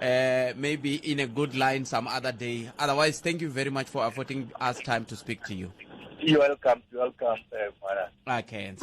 Uh, maybe in a good line some other day. Otherwise, thank you very much for affording us time to speak to you. You're welcome. You're welcome, uh, Okay.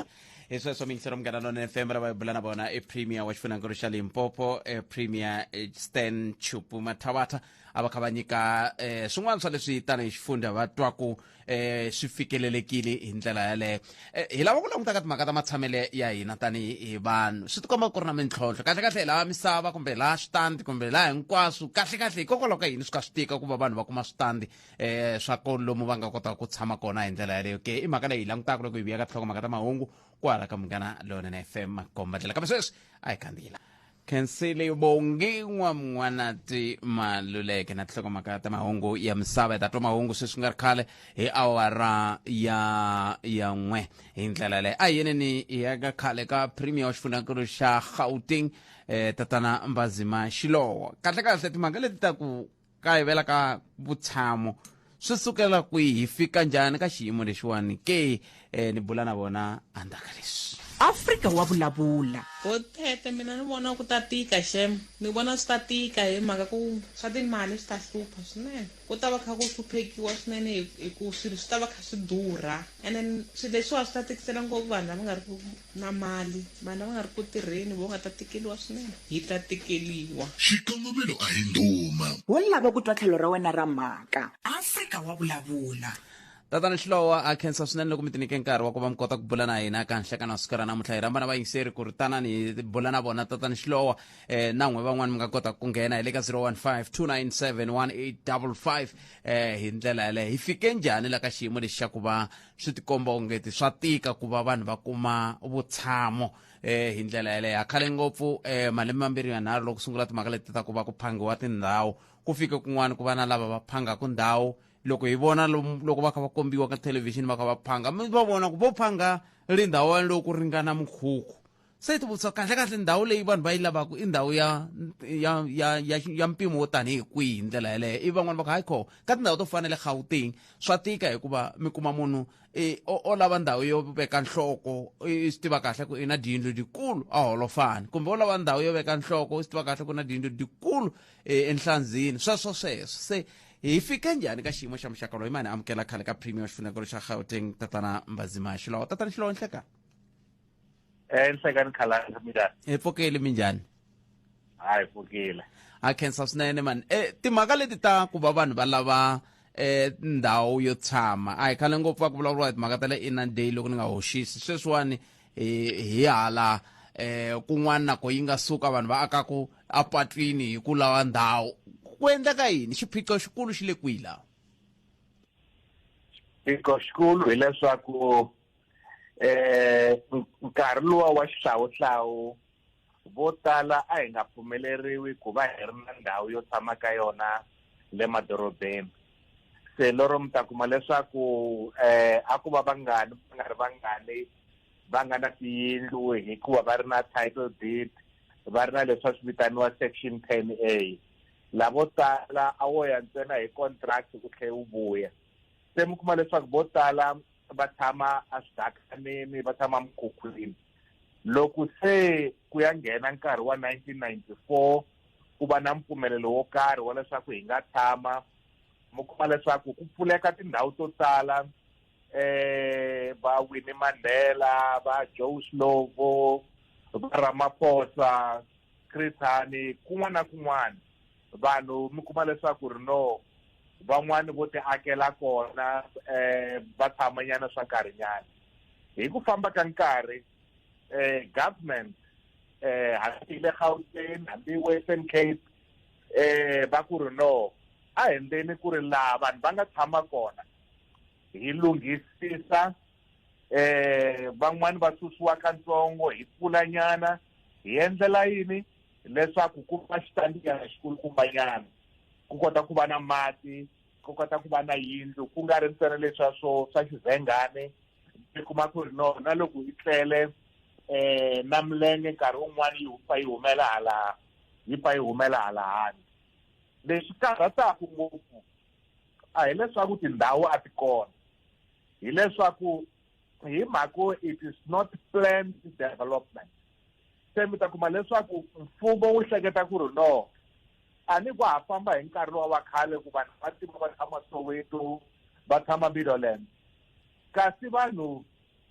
heswi swa mingisero munghana nona fm ra va bula na vona i premier wa xifunangelo xa limpopo e premier e, stan chupu mathavatha a va kha va nyika um swin'wana swa leswi tanihi xifundza va twaku eh swi fikelelekile hi ndlela yaleyo eh, hi lava ku languta ka timhaka ta matshamele ya hina tanihi hi vanhu swi tikomba ku ri na mintlhontlho kahlekahle hi lava misava kumbe laha switandi kumbe laha hinkwaswo kahlekahle hikokwalaho ka yini swi ka swi tika ku va vanhu va kuma switandi um swa kolomu va nga kotaka ku tshama kona hi ndlela yaleyo ke i mhaka leyi hi langutaka loko hi vuya ka tlhoko mhaka ta mahungu kwala ka munghana lonene fm makombandlela kambe sweswi a hi kandziyela khensile vongiwa mwanati maluleke na tinhlokomhaka ta mahungu ya misava hi ta twa mahungu sweswi nga ri khale hi awara ya ya n'we hi ndlela yaleyo a yeneni hi ya ka khale ka premier wa xifunakulu xa gauteng eh, tatana mbazima xilowo kahlekahle timhaka leti ta ku kayivela ka vutshamo swi sukela kwihi hi fika njhani ka xiyimo lexiwani ke eh, ni bula na vona andzaka leswi afrika wa vulavula bothete mina ni vona ku ta tika xem ni vona swi ta tika hi mhaka ku swa timali swi ta hlupha swinene ku ta va kha ku hluphekiwa swinene hi- hi ku swilo swi ta va kha swi durha and then swilo leswiwa swi ta tikisela ngopfu vanhu lava nga ri ku Na mali, vana va nga ri ku tirheni, vo nga ta tikeliwa swinene. Hi ta tikeliwa. Xikongomelo a hi ndhuma. Wo lava ku twa tlhelo ra wena ra mhaka. Afrika wa vulavula. Tatana Xilowa, ha khensa swinene loko mi ti nyike nkarhi wa ku va mi kota ku bula na hina ka nhlekani wa siku ra namuntlha. Hi rhamba na vayingiseri ku ri tanani hi bula na vona Tatana Xilowa. Eh, na n'we van'wani mi nga kota ku nghena hi le ka 0152971855 eh, hi ndlela yaleyo. Hi fike njhani la ka xiyimo lexi xa ku va swi tikomba ongeti swa tika ku va vanhu va kuma vutshamo eh hi ndlela yeleyo ha khale ngopfu eh malembe mambirhi yanharhu loko sungula timhaka leti ta ku va ku phangiwa tindhawu ku fike kun'wana ku va na lava va phangaka ndhawu loko hi vona loko va kha va kombiwa ka thelevhixini va kha va phanga mi va vona ku vo phanga ri ndhawu yaleyo ku ringana mukhukhu se ti vutisa kahle kahle ndhawu leyi vanhu va yi lavaka i ndhawu ya ya ya ya, ya mpimo wo tanihi kwihi hi ndlela yeleyo ivi van'wana va ku hayi kho ka tindhawu to fana le gauteng swa tika hikuva mi kuma munhu e, o, o lava ndhawu yo veka nhloko i swi tiva kahle ku i na diyindlu dikulu a holofani kumbe o lava ndhawu yo veka nhloko i swi tiva kahle ku na diyindlu dikulu e, enhlandzini sweswo sweswo se hi fike njhani ka xiyimo xa muxaka loyi mani amukela khale ka premier xifunekelo xa gauteng tatana mbazimaxi lawa tatana xilonhle ka enhlekani khalanga minjani hi pfukile minjhani hayi pfukile a khensa swinene mani e timhaka leti ta ku va vanhu va lava eh ndhawu yo tshama a hi khale ngopfu va ku vulavuriwa hi timhaka ta le inner day loko ni nga hoxisi sweswiwani hi hi hala eh kun'wana nako yi nga suka vanhu va akaku apatwini hi ku lava ndhawu ku endleka yini xiphiqo xikulu xi le kwihi laha xiphiqo xikulu hileswaku eh nkarhi lowa wa xihlawuhlawu vo tala a hi nga pfumeleriwi ku va hi ri na ndhawu yo tshama ka yona le madorobeni se lero mi ta kuma leswaku eh a ku va vangani va nga ri vangani va nga na tiyindlu hikuva va ri na title deed va ri na leswi va swi vitaniwa section ten a lavo tala a wo ya ntsena hi contract ku tlhe u vuya se mi kuma leswaku vo tala va tshama eswidakaneni va tshama mukhukhwini loko se ku ya nghena nkarhi wa 1994 ku va na mpfumelelo wo karhi wa leswaku hi nga tshama mi kuma leswaku ku pfuleka tindhawu to tala eh va Winnie Mandela va Joe Slovo va Ramaphosa Chris Hani kun'wana na kun'wana vanhu mi kuma leswaku ri no van'wani vo ti akela kona um va tshamanyana swa nkarhinyana hi ku famba ka nkarhi um government um hambi le gauteng hambi western cape um va ku ri no a hi ndzeni ku ri laha vanhu va nga tshama kona hi lunghisisa um van'wani va susiwa ka ntsongo hi pfulanyana hi endlela yini leswaku ku va xitandiyana xikulukumbanyana ku kota ku va na mati ku kota ku va na yindlu ku nga ri ntsena leswa swo swa xivhengane mi kuma ku ri no na loko yi tlele um na milenge nkarhi wun'wana yi pfa yi humela hala yi pfa yi humela hala handle lexi karhataku ngopfu a hileswaku tindhawu a ti kona hileswaku hi mhako it is not planned development se mi ta kuma leswaku mfumo wu hleketa ku ri no a ni ku ha famba hi nkarhi lowa wa khale ku vanhu va tiva va tshama soweto va tshama middleland kasi vanhu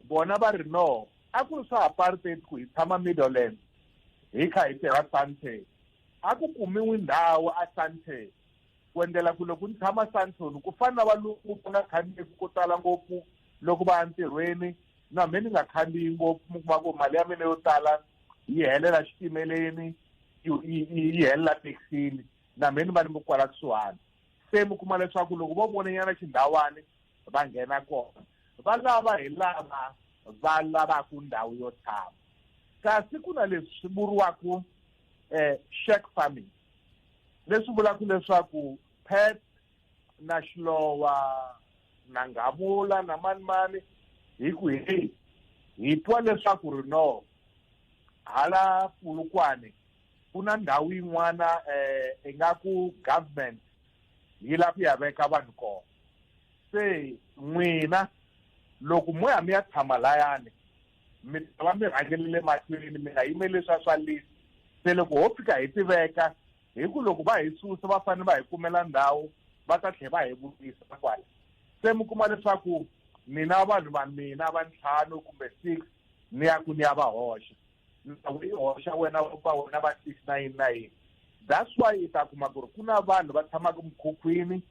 bona va ri no a ku ri swa apartheid ku hi tshama middleland hi kha hi tirha sante a ku kumiwi ndhawu a sante ku endlela ku loko ni tshama santon ku fana na valungu ku nga khandziyeki ko tala ngopfu loko va ya ntirhweni na mhe ni nga khandziyi ngopfu mi kuma ku mali ya mina yo tala yi helela xitimeleni yi helela taxini na mhe ni va ni mi kwala kusuhani se mi kuma leswaku loko vo vonanyana xindhawani va nghena kona va lava hi lava va lavaka ndhawu yo tshama kasi ku na leswi vuriwaka um eh, shack farming leswi vulaka leswaku pet na xilowa na nghavula na manimani hi ku hi hi twa leswaku ri no hala pulukwane ku na ndhawu yin'wana um ingaku government yi lava ku ya veka vanhu kona se n'wina loko mo ya mi ya tshama layani mi ta va mi rhangele le mahlweni mi nga yimeli leswa swa list se loko ho fika hi tiveka hi ku loko va hi susa va fanele va hi kumela ndhawu va ta tlhela va hi vutisa kwala se mi kuma leswaku mina vanhu va mina va ntlhanu kumbe six ni ya ku ni ya va hoxa ndhawu yi hoxa wena va wena va six na yini na yini that's why i ta kuma ku ri ku na vanhu va tshamaka mukhukhwini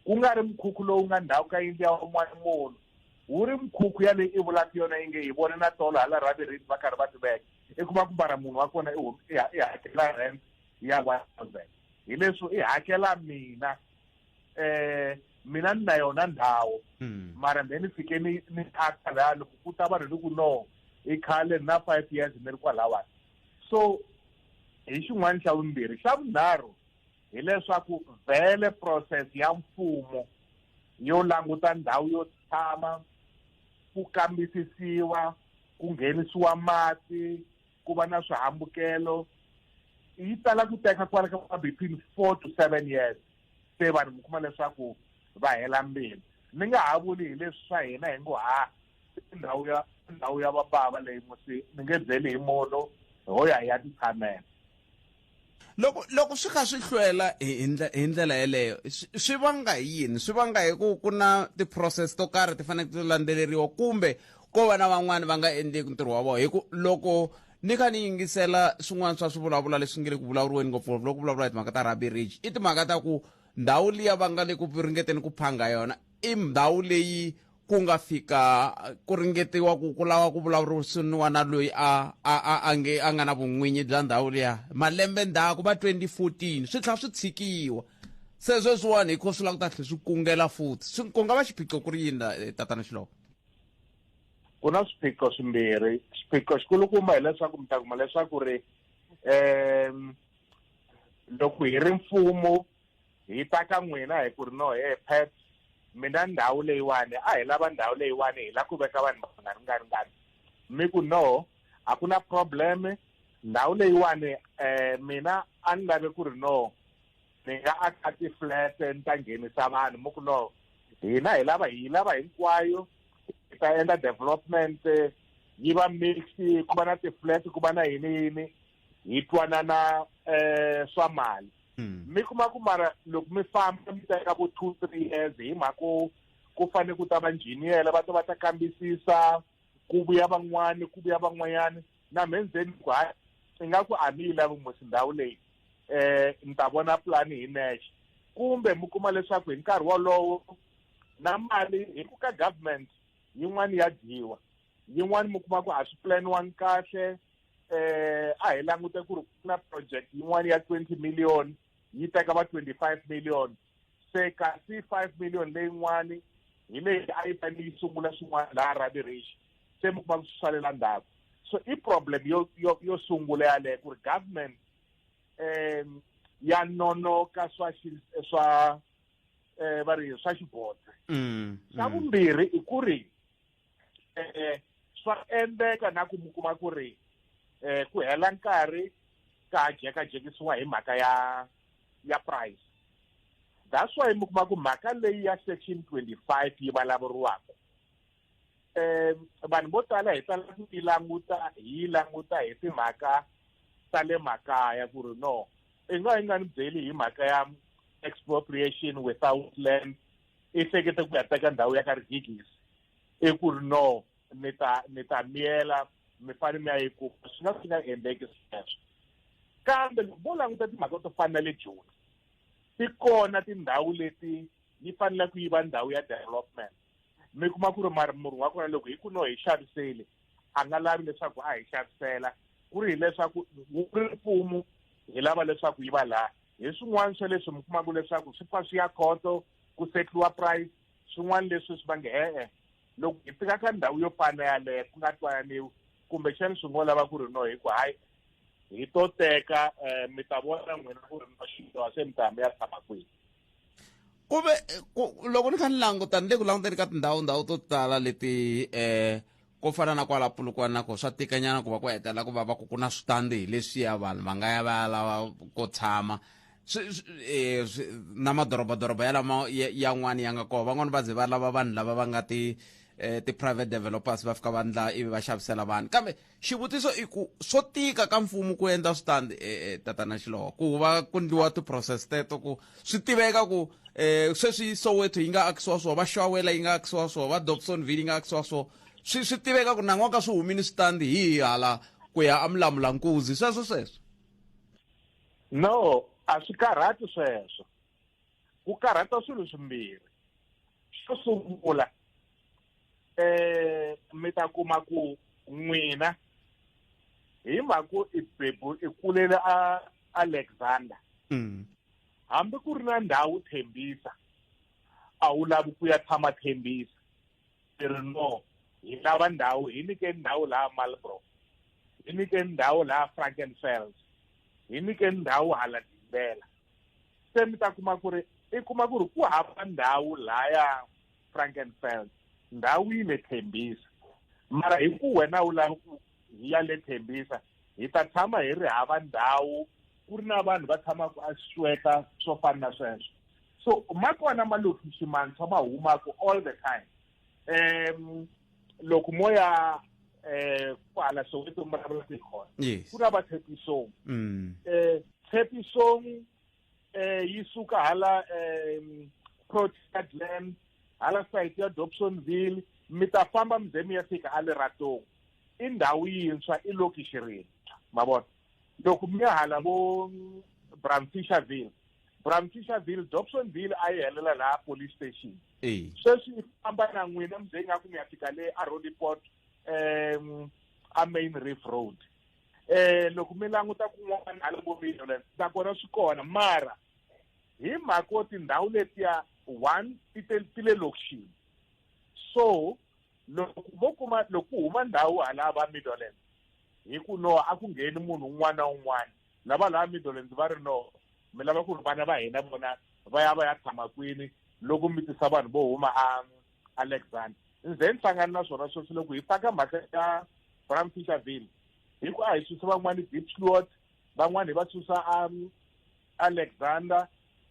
ku nga ri mukhukhu lowu nga ndhawu ka yindlu ya un'wana munhu wu ri mikhukhu ya leyi i vulaka yona yi nge hi vone na tolo hala raviriti va karhi va ti veka i kuma ku mara munhu wa kona i hakela rent ya one thousand hi leswo i hakela mina um mina ni na yona ndhawu hmm. mara mbe ni fike ni ni thaxa laya loko ku ta vanhu ni ku no i khale na five years ni ri kwalawani so hi xin'wana xa vumbirhi xa vunharhu hileswaku vhele process ya mfumo yo languta ndhawu yo tshama ku kambisisiwa ku nghenisiwa mati ku va na swihambukelo yi tala ku teka kwala ka between four to seven years se vanhu mi kuma leswaku va hela mbilu ni nga ha vuli hi leswi swa hina hi ngo ha ndhawu ya ndhawu ya vabava leyi musi ni nge byeli hi munhu ho ya hi ya titshamela Loko loko swi kha swi hlwela hi hi ndle- hi ndlela yeleyo swi swi vanga hi yini swi vanga hi ku ku na ti-process to karhi ti faneke ti landzeleriwa kumbe ko va na van'wani va nga endleki ntirho wa vona hi ku loko ni kha ni yingisela swin'wana swa swivulavula leswi nge le ku vulavuriweni ngopfungopfu loko vulavula hi timhaka ta rugby ridge i timhaka ta ku ndhawu liya va nga le ku ringeteni ku phanga yona i ndhawu leyi ku nga fika ku ringetiwa ku ku lava ku vulavurisiniwa na loyi a a a a nge a nga na vun'winyi bya ndhawu liya malembe ndzhaku va 2014 swi tlha swi tshikiwa se sweswiwani hikho swi lava ku ta tlhe swi kungela futhi swi ku nga va xiphiqo ku ri yini eh, tatana xiloko ku na swiphiqo swimbirhi xiphiqo xikulukumba hileswaku mi ta kuma leswaku ri um loko hi ri mfumo hi ta ka n'wina hi ku ri no he pet mina ndhawu leyiwani a hi lava ndhawu leyiwani hi la ku veka vanhu va nga ringaringani mi ku no a ku na problem ndhawu leyiwani um mina a ni lave ku ri no ni nga aka ti-flat ni ta nghenisa vanhu mi ku no hina hi lava hi lava hinkwayo hi ta endla development yi va mix ku va na ti-flat ku va na yini yini hi twanana um swa mali hmm. mi kuma ku mara loko mi famba mi teka vo two three years hi mhaka ku ku fanele ku ta va njhiniyela va ta va ta kambisisa ku vuya van'wani ku vuya van'wanyana na mhe ndzeni ku hayi i nga ku a mi yi lavi mosi ndhawu leyi um ni ta vona pulani hi nexe kumbe mi kuma leswaku hi nkarhi wolowo na mali hi ku ka government yin'wani ya dyiwa yin'wani mi kuma ku a swi pulaniwangi kahle eh a hi langute ku ri ku na project yin'wana ya 20 million yi teka va 25 million se kasi 5 million leyin'wani hi leyi a yi fanele yi sungula swin'wana laha rabirish se mi kuma swi salela ndzhaku so i problem yo yo yo sungula yaleyo ku ri government um ya nonoka swa swa um va ri swa xibodze mm, xa mm. vumbirhi i ku ri eh swa endleka na ku mi kuma ku ri eh ku hela nkarhi ka jekajekisiwa hi mhaka ya ya price that's why mi kuma ku mhaka leyi ya section 25 yi vulavuriwaka eh vanhu vo tala hi tala ku yi languta hi yi languta hi timhaka ta le makaya ku ri no i nga yi nga ni byeli hi mhaka ya expropriation without land i hlekete ku ya teka ndhawu ya ka rigigisi i ku ri no ni ta ni ta miyela mi fane mi ya yi kuma swi nga swi nga endleki sweswo kambe loko vo languta timhaka to fana na le joni ti kona tindhawu leti yi fanele ku yi va ndhawu ya development mi kuma ku ri mari murhi wa kona loko hi ku no hi xaviseli a nga lavi leswaku a hi xavisela ku ri hileswaku wu ri mfumo hi lava leswaku yi va laha hi swin'wana swa leswi mi kumaka leswaku swi pfa swi ya khoto ku setliwa price swin'wana leswi swi va nge e-e loko hi fika ka ndhawu yo fana yaleyo ku nga twananiwi kumbexani swi ngo lava ku ri no hi ku hayi hi to teka um mi ta vona n'wina ku ri no xidyoha se mi ta mi ya tshama kwihi ku ve loko ni kha ni languta ni le ku languteni ka tindhawu ndhawu to tala leti um ko fana na kwala pulukwana na ko swa tikanyana ku va ku hetelela ku va va ku ku na switandi hi leswiya vanhu va nga ya va ya lava ko tshama eh, na madorobadoroba yalama yan'wana ya nga kona van'wana va ze va lava vanhu lava va nga ti eh, ti-private developers va fika va ndla ivi va xavisela vanhu kambe xivutiso i ku swo tika ka mfumo ku endla switandi eh, tatana xilowa ku va ku ndliwa ti-process teto ku swi tiveka ku eh sweswi soweto yi nga akisiwa swo va xawela yi nga akisiwa swo va dobsonville yi nga akisiwa swo swi swi tiveka ku nan'wa ka swi humini switandi hi hala ku ya amulamulankuzi sweswo sweswo no a swi karhati sweswo ku karhata swilo swimbirhi xo sungula eh mi ta kuma ku n'wina hi mhaka ku i bebu i kulele a alexander mm. hambi ku ri na ndhawu thembisa a wu lavi ku ya tshama thembisa i ri no hi lava ndhawu hi nyike ndhawu laha malbro hi nyike ndhawu laha frankenfels hi nyike ndhawu hala dimbela se mi ta kuma ku ri i kuma ku ri ku hava ndhawu laya frankenfeld ndhawu yi le thembisa mara hi ku wena u lava ku hi ya le thembisa hi ta tshama hi ri hava ndhawu ku ri na vanhu va tshamaka a sweka swo fana na sweswo so ma kona malokixi mantshwa ma humaka all the time um loko mo ya um kwala soweto mi vulavula tikhona ku na vatshepisong um tshepisong eh yi suka hala eh Port Adlam hala site ya Dobsonville mi ta famba mi ze mi ya fika a Leratong i ndhawu yintshwa i lokishi rintshwa ma vona loko mi ya hala vo Bramfisherville Bramfisherville Dobsonville a yi helela laha police station eyi sweswi i famba na n'wina mi ze ingaku mi ya fika le a Roodepoort um a Main Reef Road eh loko mi languta kun'wana hala vo million nakona swi kona mara hi mhaka yo tindhawu letiya one ti te ti le lokixini so loko vo kuma loko ku huma ndhawu hala va middleland hi ku no a ku ngheni munhu un'wana na un'wana lava laha middleland va ri no mi lava ku ri vana va hina vona va ya va ya tshama kwini loko mi tisa vanhu vo huma a alexander ni ze ni hlangani na swona sweswi loko hi faka mhaka ya bram fisherville hi ku a hi susa van'wani dipsliot van'wani hi va susa um, alexander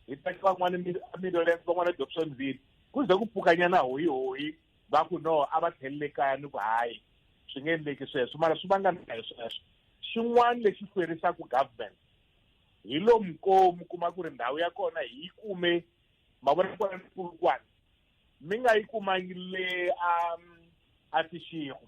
hi teka van'wani middlelands van'wani dobsonville ku ze ku pfukanyana hoyi hoyi va ku no a va tlhelele kaya ni ku hayi swi nge endleki sweswo mara swi vangana hi sweswo xin'wana lexi hlwerisaka government hi lomu ko mi kuma ku ri ndhawu ya kona hi yi kume mavona kona ni kulukwana mi nga yi kumangi le a a tixigo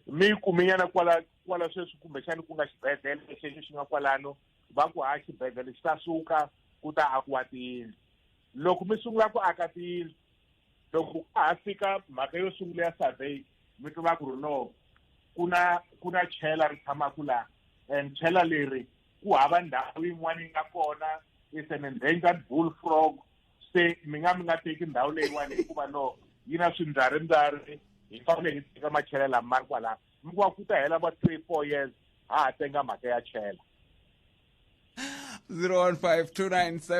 mi yi kumenyana kwala kwala sweswi kumbexani ku nga xibedhlele lexexo xi nga kwalano va ku ha xibedhlele xi ta suka ku ta akiwa tiyindlu loko mi sungula ku aka tiyindlu loko ka ha fika mhaka yo sungula ya survey mi tiva ku ri no ku na ku na chela ri tshamaka laha and chela leri ku hava ndhawu yin'wana yi nga kona is an endangered bull frog se mi nga mi nga teki ndhawu leyiwani hikuva no yi na swimbyarimbyari hi fanele hi teka machela lama ma ri kwalaho mi kuva ku ta hela va three four years ha ha tenga mhaka ya chela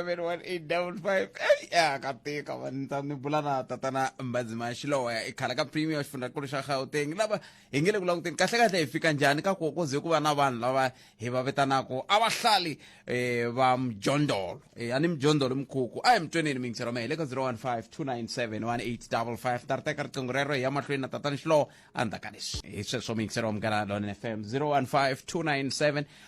0152971855 eyi ya ka tika vanitsa ni bula na tatana mbazima xilowa i khala ka premier xifundzankulu xa gauteng lava hi nge le ku languteni kahlekahle hi fika njhani ka ku koze ku va na vanhu lava hi va vitanaka a va hlali um eh, va mjondolo um a ni mjondolo mikhukhu a hi mi tweneni mingisi roma hi le ka 015 297 1855 ta ri teka riqingho rero hi ya mahlweni na tatani xilowo a ndzhaku ka leswi hi sweswo mingisi roma munghana lone fm 015 297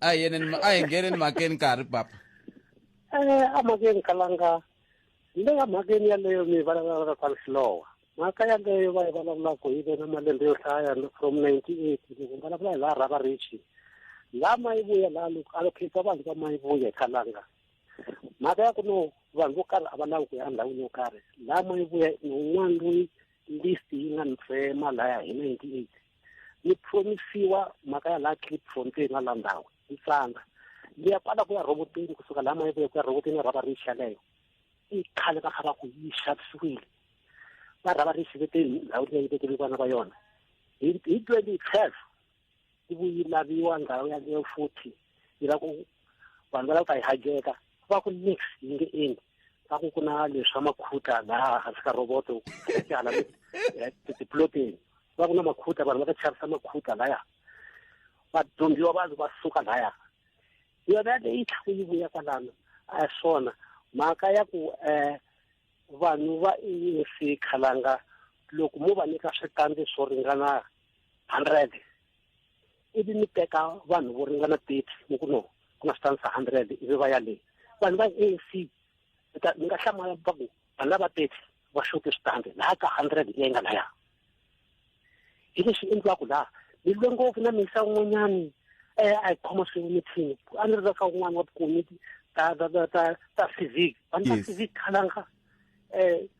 a hi yeneni a hi ngheneni mhakeni ka ha ri papa eh a mhakeni kalanga le ka mhakeni yaleyo mi vulavulaka kwala xilowa mhaka yaleyo va yi vulavulaka yi ve na malembe yo hlaya from ninety eight loko vulavula hi laha rhava richi laha ma yi vuya laha loko a lokhetsa vanhu va ma yi vuya hi kalanga mhaka ya ku no vanhu vo karhi a va lavi ku ya endhawini yo karhi laha ma yi vuya ni un'wana loyi list yi nga ni tsema laya hi ninety eight ni promisiwa mhaka ya laha clipfontein na la ndhawu yi tsanga ni ya kwala ku ya rhoboteni kusuka laha mayi vuya ku ya rhoboteni ya rhaba rixa leyo i khale va kha va ku yi xavisiwile va rhava rixa veteni ndhawu leyi vekele vana va yona hi hi twenty twelve yi vuyi laviwa ndhawu yaleyo futhi yi la ku vanhu va lava ku ta yi hajeka va ku nix yi nge endli va ku ku na leswi swa makhuta laha hansi ka roboto tyala eh, tiploteni va ku na makhuta vanhu va ta chavisa makhuta laya vadyondziwa vanhu va suka laya yona leyi tlhaku yi vuya kwalano a hi swona mhaka ya ku um vanhu va insi khalanga loko mo va nyika switandi swo ringana hundred ivi mi teka vanhu vo ringana thirty mi ku no ku na switanisa hundred ivi va ya le vanhu va a c mi ta mi nga hlamala va ku vanhu lava thirty va xote switandi laha ka hundred leyi nga laya hi leswi endliwaka laha ni lwe ngopfu na misa un'wanyani um a hi khoma swin'we mithini a ni ri ka un'wana wa vukomiti ta ta ta ta ta civic vanhu ta civic khalanga um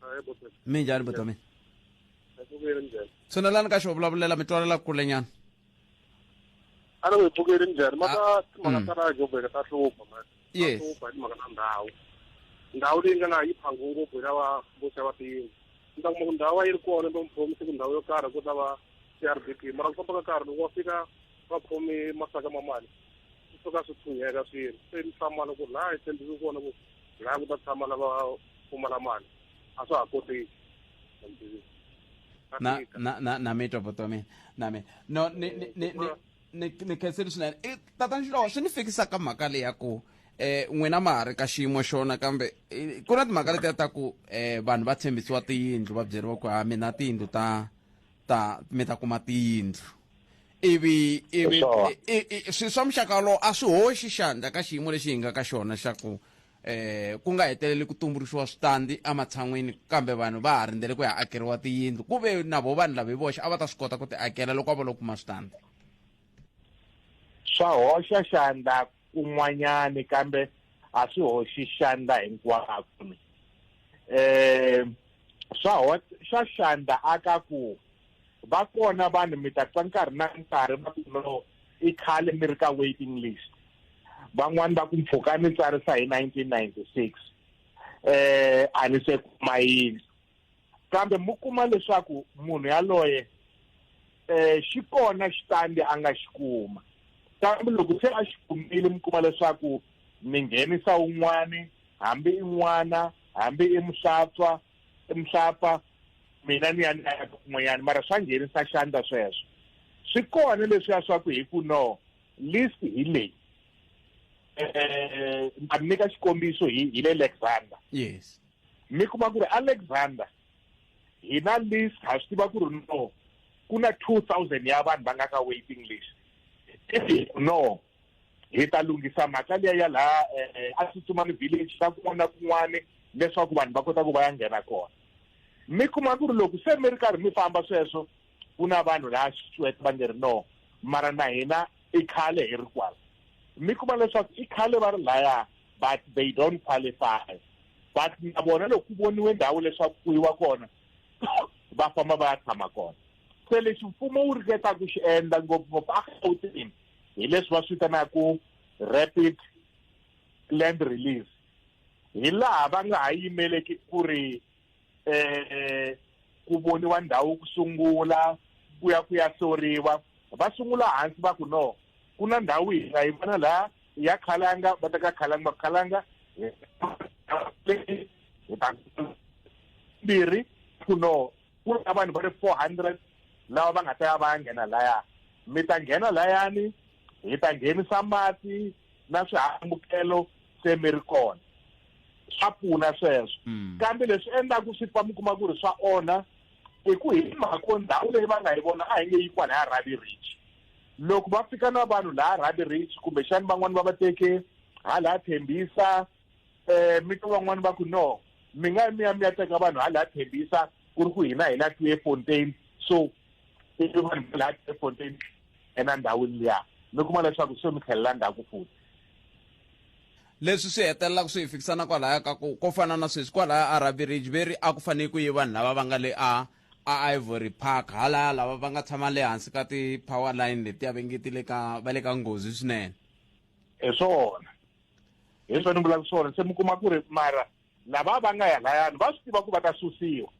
Hayi bo sesi. mi njhani buti wa mina Ngipfukile njhani? tshunelani ka xo vulavulela mi twalela kule nyana A ni ngipfukile njhani? Maka timhaka mm. ta laha Joburg ta hlupha man. Yes. Ta hlupha hi timhaka ta ndhawu. Ndhawu leyi nga laha yi phangwe ngopfu hi lava vo xava tiyindlu. Ni ta kuma ku ndhawu a yi ri kona va mi promise ku ndhawu yo karhi ku ta va CRDP mara ku famba ka nkarhi loko wa fika va khomi masaka ma mali swi suka swi tshunheka swilo se ni hlamala ku laha hi tshembeke kona ku laha ku ta tshama lava pfumala mali a swa ha koteki na na na na mi twa buti wa mina na mina no ni ni ni ni ni khenseli swinene i tata nxilowa swi ni fikisa ka mhaka leyi ya ku eh n'wina ma ha ri ka xiyimo xona kambe eh, ku na timhaka letiya ta ku eh vanhu va tshembisiwa tiyindlu va byeriwa ku ha mina tiyindlu ta ta mi ta kuma tiyindlu ivi ivi Sure. i- i- i- swi swa muxaka wolowo a swi hoxi xandla ka xiyimo lexi hi nga ka xona xa ku eh ku nga heteleli ku tumbuluxiwa switandi ematshan'wini kambe vanhu va ha rindzele ku ya akeriwa tiyindlu ku ve na vo vanhu lava hi voxe a va ta swi kota ku ti akela loko a va lo kuma switandi swa hoxa xandla kun'wanyani kambe a swi hoxi xandla hinkwako eh swa swa xandla aka ku Va kona vanhu mi ta twa nkarhi na nkarhi va ku no i khale mi ri ka waiting list van'wani va ku mpfhuka ni tsarisa hi 1996 eh a ni se kuma yindlu kambe mu kuma leswaku munhu yaloye eh xi kona xitandi a nga xi kuma kambe loko se a xi kumile mi kuma leswaku mi nghenisa un'wani hambi i n'wana hambi i muhlatswa mhlapa mina ni ya ni ya kun'wanyana mara swa nghenisa xandla sweswo swi kona leswiya swa ku hi ku no list hi leyi eh a mi nyika xikombiso hi hi le Alexander yes mi kuma ku ri Alexander hi na list ha swi tiva ku ri no ku na 2000 ya vanhu va nga ka waiting list no hi ta lunghisa mhaka liya ya laha eh, a tsutsumani village na kun'wana na kun'wana leswaku vanhu va kota ku va ya nghena kona mi kuma ku ri loko se mi ri karhi mi famba sweswo ku na vanhu laha xitswete va nge ri no mara na hina i khale hi ri kwala mi kuma leswaku i khale va ri laya but they don't qualify but na vona loko ku voniwe ndhawu leswaku ku yiwa kona va famba va ya tshama kona se lexi mfumo wu ringetaku xi endla ngopfungopfu a gauteng hi leswi va swi vitanaka rapid land release hi laha va nga ha yimeleki ku ri eh ku voniwa ndhawu ku sungula ku ya ku ya soriwa va sungula hansi va ku no ku na ndhawu hi nga yi vona laha ya khalanga va teka khalanga va khalanga hi ta mbirhi ku no ku ri na vanhu va ri four hundred lava va nga ta ya va ya nghena laya mi ta nghena layani hi ta nghenisa mati na swihambukelo se mi ri kona swa pfuna sweswo mm. kambe leswi endlaku swi fa mi kuma ku ri swa onha hi ku hi mhako ndhawu leyi va nga yi vona a hi nge yi kwala ya rabi rich loko va fika na vanhu laha rabi rich kumbexani van'wani va va teke ha laha thembisa um mi twa van'wani va ku no mi nga mi ya mi ya teka vanhu hala thembisa ku ri ku hina hi la tue fontain so ivi vanhu va la tue fontain ena ndhawini liya mi kuma leswaku se mi tlhelela ndzhaku futhi leswi swi hetelelaka swi hi fikisana kwalaya ka ku ko fana na sweswi kwalaya arabi ridge veri a ku fanele ku yi vanhu lava va nga le a a ivory park halaya lava va nga tshama le hansi ka ti-power line letiya va ngetile ka va le ka nghozi swinene hi swona hi swo ni vulaka swona se mi kuma ku ri mara lava va nga ya layani va swi tiva ku va ta susiwa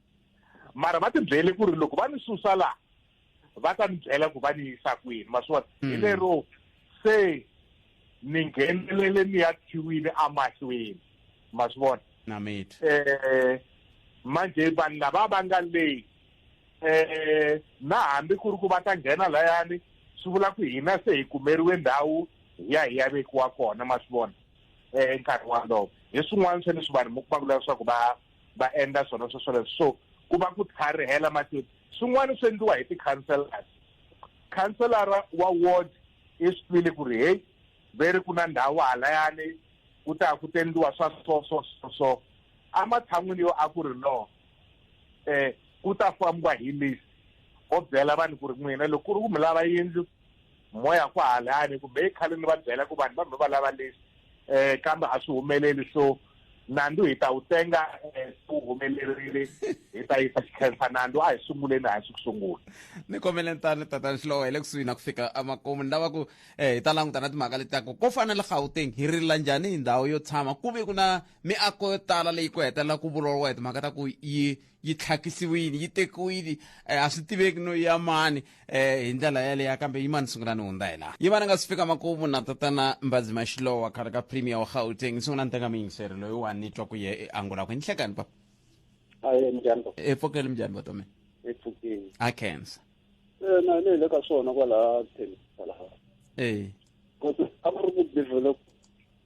mara va tibyele ku ri loko va ni susa laha va ta ni byela ku va ni yisa kwini ma swi vona hi mm. lero se ni nghenelele ni ya khiwile amahlweni ma swi vona um eh, manje vanhu lava va nga leyi eh na hambi ku ri ku va ta nghena layani swi vula ku hina se hi kumeriwe ndhawu hi ya hi ya vekiwa kona ma swi vona eh nkarhi walowo hi swin'wana swa leswi vanhu mi kuma ku lava leswaku va va endla swona swo swoleswo so ku va ku tlharihela matini swin'wana swi endliwa hi ti-councellors councillara wa ward i swi twile ku ri heyi ve ri ku na ndhawu halayani ku ta ku tendliwa swa so so so so ematshan'wini yo a ku ri lowo um ku ta fambiwa hi list o byela vanhu ku ri n'wina loko ku ri ku mi lava yindlu moya ku halani kumbe i khale ni va byela ku vanhu va mi va lava list um kambe a swi humeleli so nandzu hi ta wu tenga eh, wu humelerile hi ta yisa xikhensa nandzu a hi sunguleni hansi ku sungula ni kombele tani tatani xilowo hi le kusuhi na ku fika emakumu ni lava ku um hi ta languta na timhaka leti taku ko fana le gauteng hi rila njhani hi ndhawu yo tshama ku ve ku na miako yo tala leyi ku hetelela ku vulavuriwa hi timhaka ta ku yi yi tlhakisiwile yi tekiwile um a swi tiveki no ya mani um hi ndlela yaleya kambe yi mani sungula ni hundza hi laha yi va ni nga si fika makumu na tatana mbazi maxilowa khale ka premier wa gauteng sungula ni teka miyingiseri loyi wa ni twa ku ye e angula ku ni hlekani papa aye njhani baba epfokeli minjhani vatomeni epfukeni a cancer na ni le ka swona kwalaha thelisa laha e kodwa a ku ri ku develop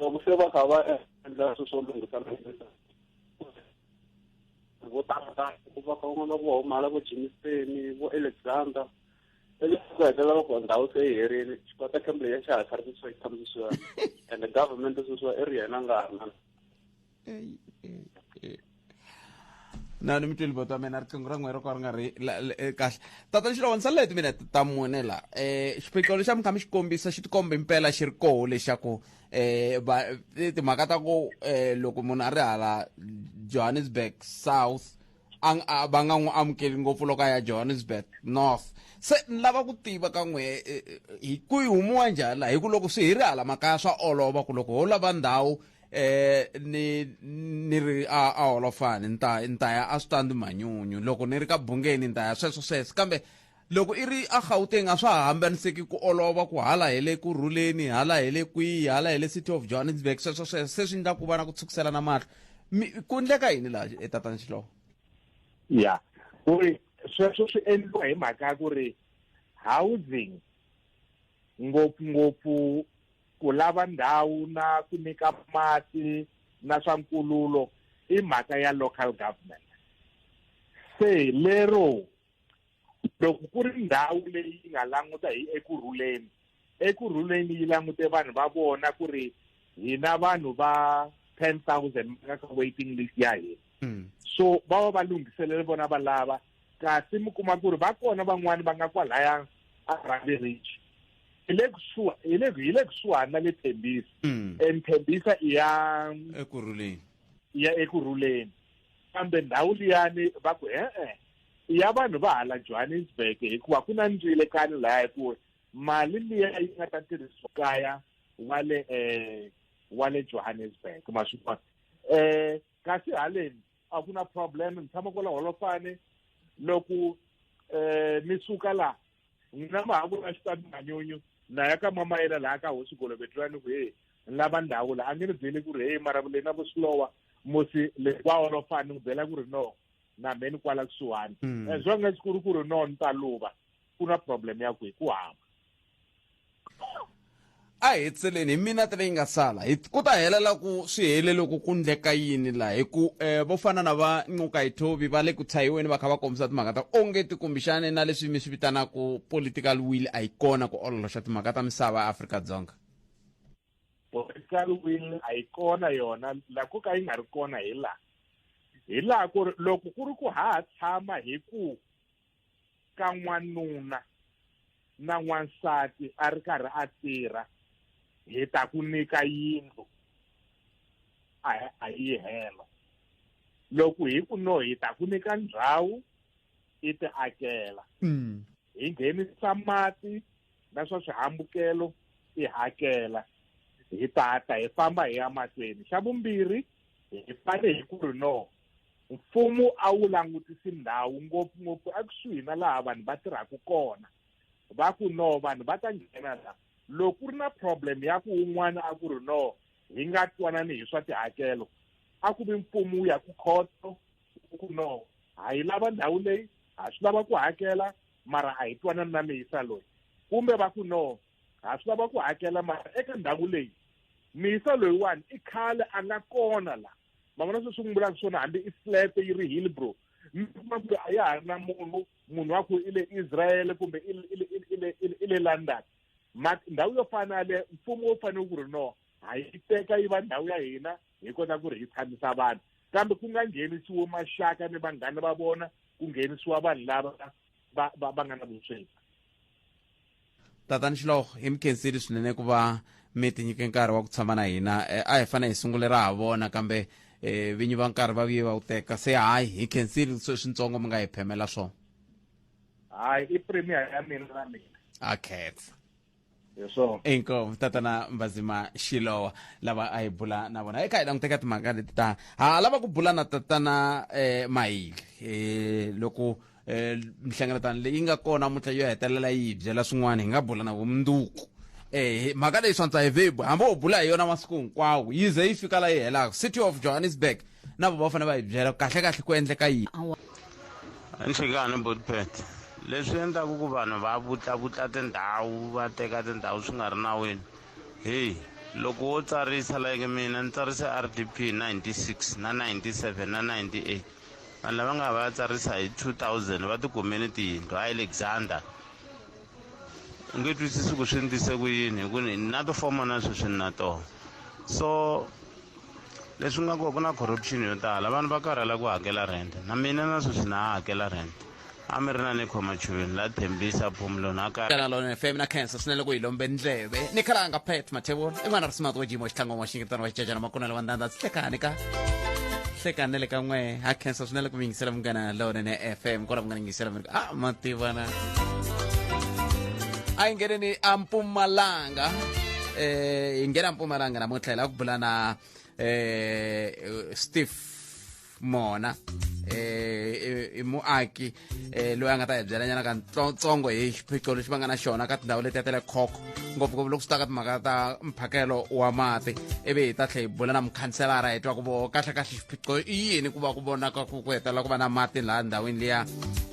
loko se va kha va endla swilo swo lunghisa vo tala va kha van'wana vo humala vo jimiseni vo alexander leswi ku hetelela loko ndhawu se yi herile xikota kembe ya xa ha kharisiwa yi tshamisiwa and government sweswiwa i ri yena nga ha ri na Ei, ei, ei. na ni mi tweli boto mina riqingho ra n'we ro ka ri nga ri la- la- eh, kahle tata lexi loko ni salele timinete ta mune la um xiphiqo lexi a mi kha mi xi kombisa xi tikomba impela xi ri koho lexaku um va eh, timhaka ta ku um loko munhu a ri hala johannesburg south a ng- a- va nga n'wi amukeli ngopfu loko a ya johannesburg north se ni lava ku tiva ka n'we eh, eh, hi ku yi humiwa njhani la hi ku loko swi hi ri hala makaya swa olova ku loko ho lava ndhawu eh ni ni ri a a holofani ni ta ni ta ya a swi ta ndzi manyunyu loko ni ri ka bungeni ni ta ya sweswo sweswo kambe loko i ri a gauteng a swa ha hambaniseki ku olova ku hala hi le ku rhuleni hala hi le kwihi hala hi le city of johannesburg sweswo sweswo se swi endla ku va na ku tshukiselana mahlo ku endleka yini laha etatani xilowo ya ku ri sweswo swi endliwa hi mhaka ya ku ri housing ngopfungopfu ku lava ndhawu na ku nyika mati na swa nkululo i mhaka ya local government se lero loko ku ri ndhawu leyi yi nga languta hi eku rhuleni eku rhuleni yi langute vanhu va vona ku ri hina vanhu va ten thousand ka waiting list ya hina hmm. so va va va lunghiselele vona va lava kasi mi kuma ku ri va kona van'wani va nga kwalaya a rhandi ridge hi le kusuha hi le hi le kusuhani na le thembisa mm. and thembisa i ya ekurhuleni i ya ekurhuleni kambe ndhawu liyani va ku e-e i ya vanhu va hala johannesburg hikuva ku na ndzile kani laya hi ku mali liya yi nga ta tirhisiwa kaya wa le um wa le johannesburg ma swi vona um kasi haleni a ku na problem ni tshama kwala holofane loko um eh, mi suka laha n'wina ma ha ku na xitati manyunyu na ya ka mama yena laha ka hosi golovetirani ku heyi ni lava ndhawu laha a nge ni byeli ku ri heyi mara leyi na vusilowa musi le wa holofane ni ku byela ku ri no na me ni kwala kusuhani hmm. as long as ku ri ku ri no ni ta luva ku na problem ya ku hi ku hamba a hi tseleni hi minete leyi nga sala hi ku ta helela ku swi hele loko ku ndleka yini laha hi ku um vo fana na va ncuka hi thovi va le ku tshahiweni va kha va kombisa timhaka ta onge tikumbixane na leswi mi swi vitanaka political will a yi kona ku ololoxa timhaka ta misava ya afrika dzonga political will a yi kona yona la ku ka yi nga ri kona hi laha hi laha ku ri loko ku ri ku ha ha tshama hi ku ka n'wanuna na n'wansati a ri karhi a tirha hi ta ku nyika yindlu a a yi helo loko hi ku no hi ta ku nyika ndhawu i ti akela mm. hi nghenisa mati na swa swihambukelo i hakela hi tata hi famba hi ya mahlweni xa vumbirhi hi fane hi ku ri no Mfumo a wu langutisi ndhawu ngopfungopfu ekusuhi na laha vanhu va tirhaka kona va ku no vanhu va ta nghena la loko ku ri na problem ya ku un'wana a ku ri no hi nga twanani hi swa tihakelo a ku vi mfumo wu ya ku khoto ku no ha yi lava ndhawu leyi ha swi lava ku hakela mara a hi twanani na miyisa loyi kumbe va ku no ha swi lava ku hakela mara eka ndhawu leyi miyisa loyiwani i khale a nga kona la ma vona sweswi ku mbulaka swona hambi i flat yi ri hillbrow mi kuma ku a ya ha ri na munhu munhu wa ku i le israele kumbe i le london ma ndhawu yo fana yaleyo mfumo wu fanele ku ri no ha yi teka yi va ndhawu ya hina hi kota ku ri hi tshamisa vanhu kambe ku nga nghenisiwi maxaka ni vanghana va vona ku nghenisiwa vanhu lava va va va nga na vusweti tatani xiloho hi mi khenseli swinene ku va mi tinyike nkarhi wa ku tshama na hina eh, a hi fane hi sungule ra ha vona kambe eh, vinyi va nkarhi va vuye va wu teka se hayi hi khenseli sweswintsongo mi nga hi phemela swona hayi i premier ya mina na mina a khetsa hi swona inkomu tatana mbazima xilowa lava a hi bula na vona eka hi languteka timhaka leti ta ha lava ku bula na tatana eh, mahili eh, loko eh, mihlengeletano leyi nga kona mutla yo hetelela yi hi byela swin'wana hi nga bula na vumundzuku eh mhaka leyi swantsa hi vebu hambi u bula hi yona masiku hinkwawo yi ze yi fika la yi helaka city of johannesburg na vo va fanele va hi byela kahle kahle ku endleka yini nhlekani botpet leswi endlaku ku vanhu va vutllavutla tindhawu va teka tindhawu swi nga ri nawini heyi loko wo tsarisa like mina ni tsarise r d p 96 na 97 na 98 vanhu lava nga va ya tsarisa hi 2000 va tikumeni tiyindlu a alexander u nge twisisi ku swi endlise ku yini hi ku ni na tifoma na sweswi ni na tona so leswi nga kona ku na corruption yo tala vanhu va karhala ku hakela rent na mina na sweswi na ha hakela rent a mi ri na ni khoma chuveni la thembisa phumulo na ka kana lona fm na cancer swinene ku hi lombe ndleve ni khala nga pet mathevula i n'wana ri simati wa jimo xitlangwa wa xingetano wa xicacana makunela wa ndandza hlekani ka hlekani le ka n'we ha cancer swinene ku mi yingisela munghana lowunene fm kona ku nga ni yingisela a ma tiva na a yi ngeneni a mpumalanga eh hi nghena mpumalanga namuntlha hi lava ku bula na eh steve mona eh i muaki eh loyi a nga ta hi byelanyana ka ntsongo hi xiphiqo lexi va nga na xona ka tindhawu letiya ta le khokho ngopfungopfu loko swi ta ka timhaka ta mphakelo wa mati ivi hi ta tlhe hi bula na mukhanselara hi twa ku vo kahlekahle xiphiqo i yini ku va ku vonaka ku ku hetelela ku va na mati laha ndhawini liya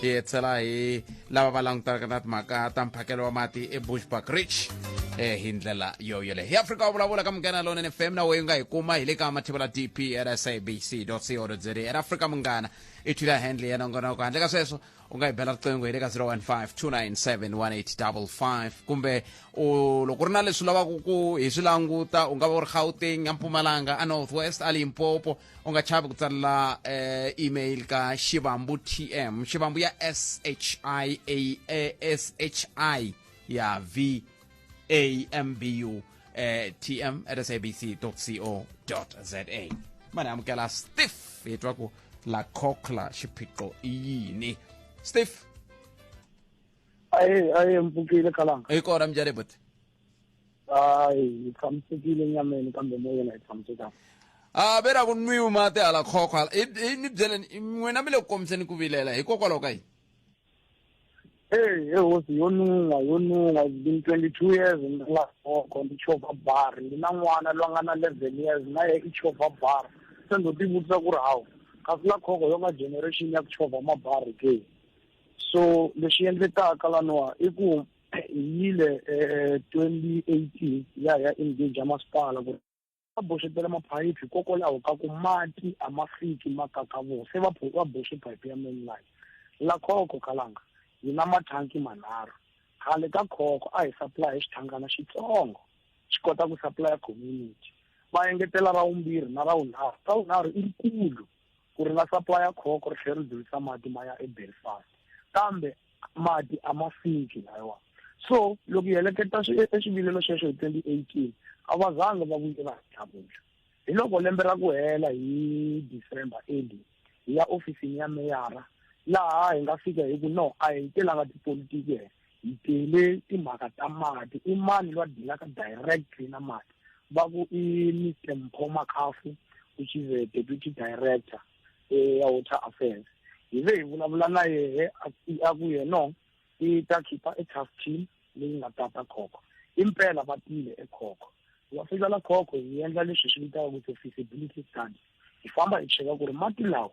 hi hetshela hi lava va langutanaka na timhaka ta mphakelo wa mati ebushback rich eh hi ndlela yo yole hi afrika wa vulavula ka munghana lonene fm na weyi nga hi kuma hi le ka mathivela dp at sabc co za era afrika munghana i thwila handle ya nongonoko handle ka sweswo ungayibela riqingho hi le ka 015 kumbe u loko ri na leswi lavaka ku hi swi languta u nga va u ri gauteng a mpumalanga a north west a limpopo u nga chavi ku tsalela eh, email ka xivambu tm xivambu ya s h i a s h i ya v ambu eh, tm at sabc co za mane amukela stiff hi twa ku la cochla xiphiqo i yini stiff aye aye mpfukile kalanga hi kona minjhani buti hayi hi tshamisekile nyameni kambe moyeni a hi tshamisekanga a ve ra ku nwiwi mati hala khokho hala i i ni byeleni n'wina mi le ku kombiseni ku vilela hikokwalaho ka yini Hey, hey hosi yo nunga yo nunga it's been 22 years in the last walk on the chopper bar ndi na n'wana loyi a nga na 11 years na ye i chopper bar se ndo tivutisa ku ri hawu kasi la khoko yo nga generation ya ku chova mabari ke so lexi endlekaka laniwa i ku hi yile um 2018 ya ya engage ya masipala ku va boxetela maphayiphi hikokwalaho ka ku mati a ma fiki ma kakavoo se va va boxe phayiphi ya mainline la khoko kalanga yi na mathanki manharhu khale ka khoko a hi supply xithangana xitsongo xi kota ku supply community va engetela ra vumbirhi na ra vunharhu ra vunharhu i rikulu ku ri nga saplaya khoko ri tlhela ri dzulisa mati ma ya ebelfast kambe mati a ma fiki layiwa so loko hi heleketa eswivilelo sweswo hi twenty eighteen a va zangi va vuyela tlhakuxa hi loko lembe ra ku hela hi december early hi ya ofisini ya meyara laha hi nga fika hi ku no a hi telanga tipolitiki hehla hi tele timhaka ta mati i mani lwa dilaka directly na mati va ku i mr mpho makhafu which is a deputy director eh, ya water affairs hi ve hi vulavula na yehe a ku yeno i ta khipha e task team leyi nga tata khokho impela va tile ekhokho va fika la khokho hi endla leswi swi vitaka ku feasibility study hi famba hi cheka ku ri mati lawa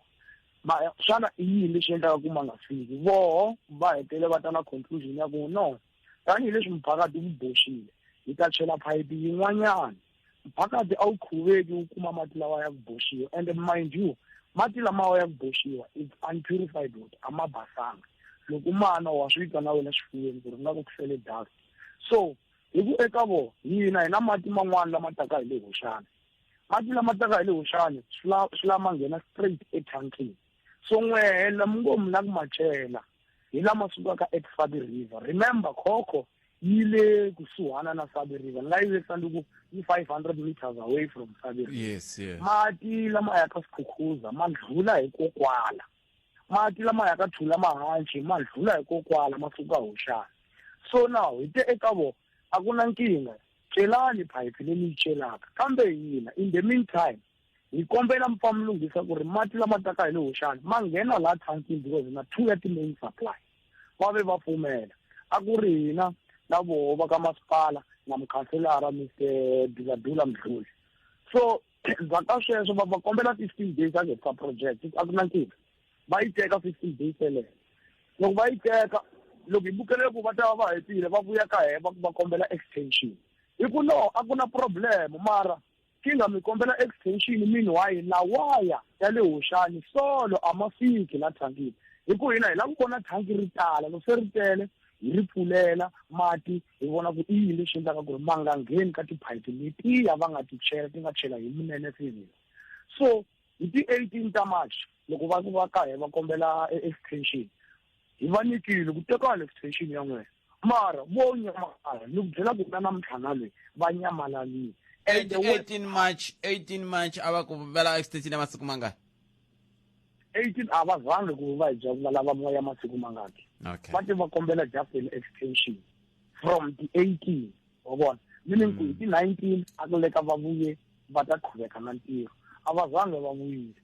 ma xana i yini lexi endlaka ku ma nga fiki voho va hetele va ta na conclusion ya ku no tanihileswi mphakati wu boxile hi ta chela phayiphi yin'wanyana mphakati a wu khuveki wu kuma mati lawa ya ku boxiwa and mind you mati lamawa ya ku boxiwa is unpurified water a ma basanga loko ma nwa wa swi twa na wena xifuveni ku ri nga ku ku fele dust so hi ku eka vona hina hi na mati man'wana lama taka hi le hoxana mati lama taka hi le huxani swi la swi lama nghena straight ethankini so n'wehe la mi ngo mi la ku ma cela hi lama sukaka eku sabi river remember khokho yi le kusuhana na sabi river ni nga yi vekisa ndi ku yi five hundred meters away from sabi river yes yes mati lama ya ka swikhukhuza ma ndlhula hikokwala mati lama ya ka thula mahanci ma ndlhula hikokwala ma suka huxana so now hi te eka vona a ku na nkingha celani phayiphi leyi ni yi celaka kambe hina in the meantime hi kombela mi pfa mi lunghisa ku ri mati lama taka hi le hoxani ma nghena laha thankini because hi na two ya ti-main supply va ve va pfumela a ku ri hina na voho va ka masipala na mukhanselara mr duladula mdluli so endzhaku ka sweswo va va kombela fifteen days a nge sa project a ku na nkingha va yi teka fifteen days yeleyo loko va yi teka loko hi bukelele ku va ta va va hetile va vuya ka hee va kombela extension hi ku no a ku na problem mara kinga mi kombela extension meanwhile la waya ya le hoxani solo a ma fiki la thankini hi ku hina hi lava ku vona thanki ri tala loko se ri tele hi ri pfulela mati hi vona ku i yini lexi endlaka ku ri va nga ngheni ka tiphayiti letiya va nga ti chela ti nga chela hi munene fivile so hi ti-eighteen ta march loko va va ka hi va kombela e-, extension hi va nyikile ku tekana extension ya n'wina mara vo nyamalala ni ku byela ku na namuntlhana leyi va nyamalalile and the way- 18 march 18 march a va ku vela extension ya masiku mangani 18 a va zangi ku va hi va lava moya masiku mangaki okay. va te va kombela just an extension from the 18 wa vona meaning ku hi ti 19 a ku leka va vuye va ta qhuveka na ntirho a va zange va vuyile